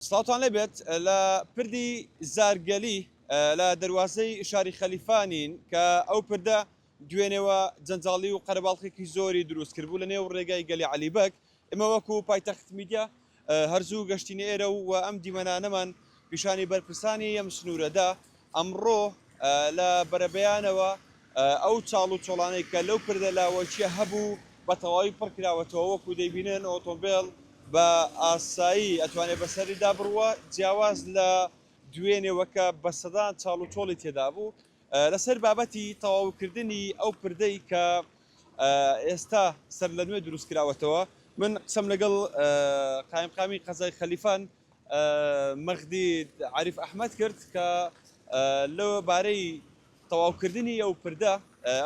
سڵاوتان لێ بێت لە پردی زارگەلی لە دەروازەی شاری خەلیفا نین کە ئەو پردە دوێنێوە جەنجاڵی و قەرەباڵخێکی زۆری دروست کرد بوو لە نێو ڕێگای گەلی عەلی بەگ ئمە وەکو پایتەخت میدیا هەرزوو گەشتینە ئێرە و ئەم دیمەنانەمان پیشانی بەرپرسانی ئەم سنوورەدا ئەمڕۆ لە بەرەبەیانەوە ئەو چاڵ و چۆڵانەی کە لەو پردە لاوەکییە هەبوو بە تەواوی پڕ کراوەتەوە، وەکو دەیبینن ئۆتۆمبێل بە ئاسایی ئەتوانێت بەسەریدا بڕوا، جیاواز لە دوێنێوە کە بە سەدان چاڵ و چۆڵی تێدابوو. لەسەر بابەتی تەواوکردنی ئەو پردەی کە ئێستا سەرلەنوێ دروستکراوەتەوە من قسەم لەگەڵ قایمقامی قەزای خەلیفان مەغدی عەریف ئەحمەد کرد کە لە بارەی تەواوکردنی ئەو پردە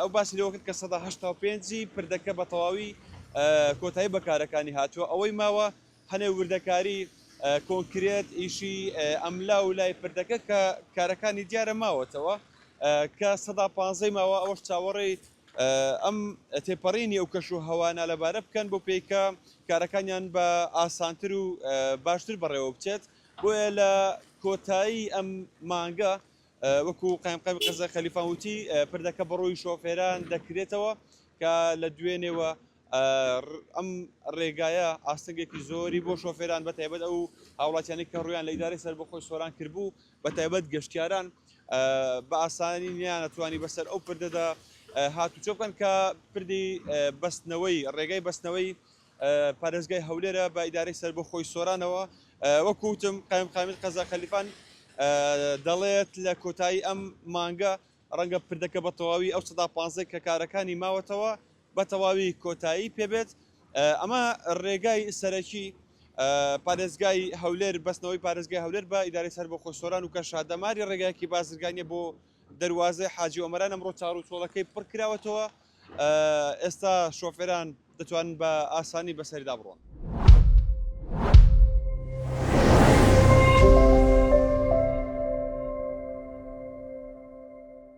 ئەو باسی لەوە کرد کە سەدا هەشتا و پێنجی پردەکە بە تەواوی کۆتایی بەکارەکانی هاتووە ئەوەی ماوە هەنێ وردەکاری کۆنکرێت ئیشی ئەملا و لای پردەکە کە کارەکانی دیارە ماوەتەوە کە سەدا پانزەی ماوە ئەوەش چاوەڕێی ئەم تێپەڕینی و کەش و هەوا نالەبارە بکەن بۆ پێی کە کارەکانیان بە ئاسانتر و باشتر بەڕێوە بچێت بۆیە لە کۆتایی ئەم مانگە وەکو قایمقامی قەزا خەلیفان وتی پردەکە بەڕووی شۆفێران دەکرێتەوە کە لە دوێنێوە ئەم ڕێگایە ئاستەنگێکی زۆری بۆ شۆفێران بەتایبەت ئەو هاوڵاتیانی کە ڕویان لە ئیداری سەربەخۆی سۆران کردبوو بەتایبەت گەشتیاران بە ئاسانی نەیانتوانی بەسەر ئەو پردەدا هاتوچۆ بکەن کە پردی بەستنەوەی ڕێگای بەستنەوەی پارێزگای هەولێرە بە ئیدارەی سەربەخۆی سۆرانەوە وەکوتم قایم قامیل قەزا خەلیفان دەڵێت لە کۆتایی ئەم مانگە ڕەنگە پردەکە بە تەواوی ئەو سەدا پانزەی کە کارەکانی ماوەتەوە بە تەواوی کۆتایی پێبێت ئەمە ڕێگای سەرەکی پارێزگای هەولێر بەستنەوەی پارێزگای هەولێر بە ئیداری سەر بۆ خۆسۆران و کە شادەماری ڕێگایەکی بازرگانیە بۆ دەواازەی حاجی ئۆمەران ئەمڕۆ چاڕ و چۆڵەکەی پڕ کراوەتەوە ئێستا شۆفێران دەتوان بە ئاسانی بەسەردا بڕۆن.